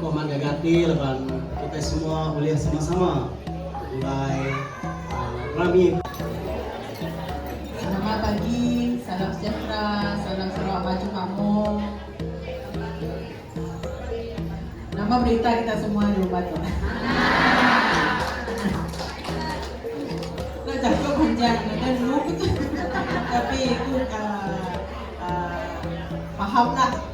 Ko mak gaga ati laban kitai semua ulih sama-sama beulai rami. Selamat pagi, salam sejahtera, salam Sarawak maju makmur. Nama berita kita semua di rumah tu? Nak jaku panjang dengan lu tapi ku uh, uh, faham lah.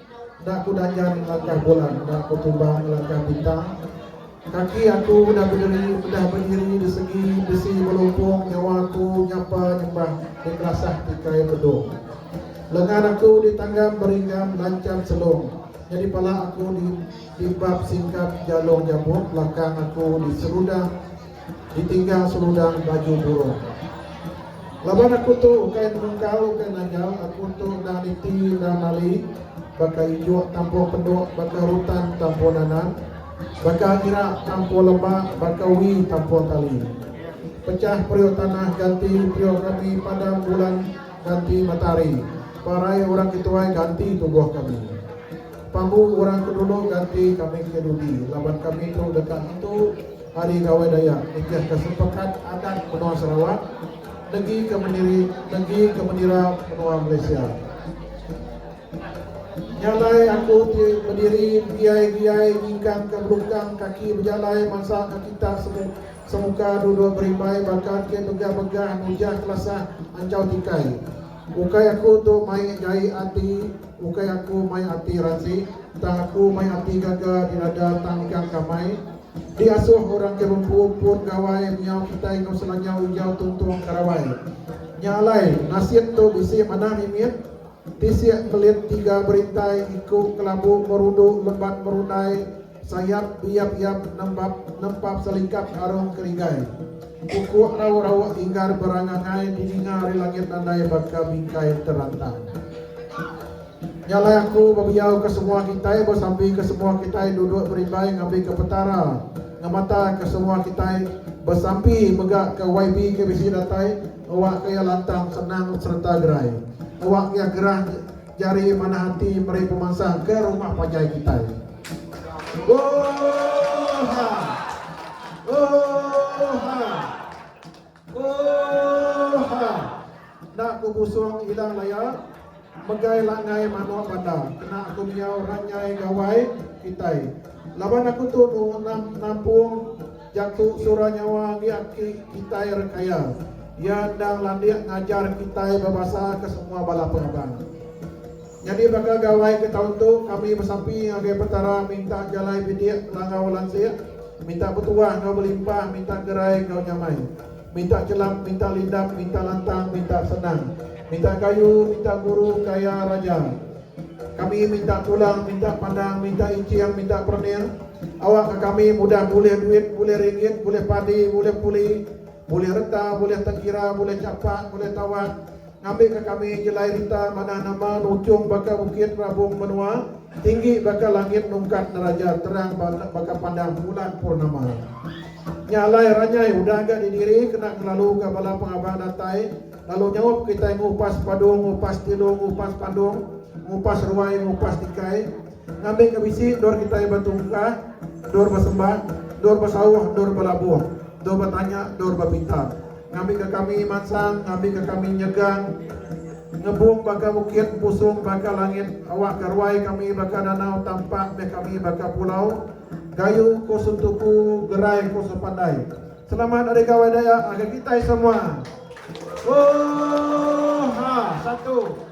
Enda ku daja ngelangkah bulan enda ku tuba ngelangkah bintang kaki aku udah bederi udah beiri besegi besi belumpung nyawa aku nyapa nyembah di melasah ti kai bedung lengan aku di tanggam beringgam lanchap selung nyadi pala aku di di bab singkap jalung jabut belakang aku di seludah Ditinggal seludang baju burung. Laban aku tu ukai menungkau ukai nanjau aku tu enda niti enda mali baka injuk tampuh penduk baka rutan tampuh nanan baka irak tampuh lembak baka wi tampuh tali pecah periuk tanah ganti periuk kami padam bulan ganti matahari parai orang ke tuai ganti tubuh kami pambu orang ke dulu ganti kami ke dudi laban kami tu deka ngentu Hari Gawai Dayak nitihka sepekat adat menua Sarawak negika mendiri negika mendira menua Malaysia. Nya alai aku ti bediri giai-giai nyingkangka belukang kaki bejalai mansakka kitak semu semuka duduk berimbai baka ke begah-begah nujah kelasah anjau tikai. Ukai aku tu mai jai ati, ukai aku mai ati ransik, tang aku mai ati gaga di dada tang ikang kamai. Diasuh orang ke bempun-pun gawai menyau kitai enggau selanja ujar tuntung ke rabai. Nya alai, nasit tu bisi manah mimit, tisik melit tiga berintai, iku kelabu merudu lemban merundai, sayap beyap-yap nembap nempap selikap arung kerigai. Pukuk rauk-rauk inggar berangangai dininga ari langit andai baka bingkai terantang. Nyalah aku bebiauka semua kitai besampika semua kitai duduk berimbai ngambika Petara ngemataka semua kitai besampi mega ke YB ke bisi datai ngewakka iya lantang senang sereta gerai ngewakka iya gerah jari manah ati meri pemansang ke rumah panjai kitai Oohhha Oohhha. Ooh ha. Enda ku busung ilang laya megai langgai manok banda kena aku miau ranyai gawai kitai. Laban aku tu nu enam nampung jatu sura nyawa agi aki kitai rekaya iya endang landik ngajar kitai bebasa ke semua bala pengabang. Nyadi baka gawai ke taun tu, kami besapi ngagai Petara minta jalai bidik langau lansik, minta betuah enggau belimpah, minta gerai enggau nyamai, minta chelap, minta lindap, minta lantang, minta senang, minta kayu, minta guru kaya raja. Kami minta tulang, minta pandang, minta iching, minta perening awak ke kami mudah bulih duit, bulih ringgit, bulih padi, bulih puli, bulih reta, bulih tengkira, bulih chapak, bulih tawat, Ngambika kami jelai rita manah nama nujung baka bukit rabung menua, tinggi baka langit nungkat neraja terang baka pandang bulan purnama. Nya alai ranyai udah ga didiri kena ngelaluka bala pengaban datai lalu nyaup kitai ngupas padu, ngupas tilu, ngupas pandung, ngupas ruai, ngupas tikai, Ngambi ke bisi endor kitai betungka, endor besemba, endor besauh, endor belabuh, endor betanya, endor bepinta. Ngambi ke kami mansang, ngambi ke kami nyegang, ngebung baka bukit, empusung baka langit, awakka ruai kami baka danau, tampak meh kami baka pulau. Gayu ku suntuku, gerai ku sepandai. Selamat Hari Gawai Dayak ngagai kitai semua. Ooh ha satu.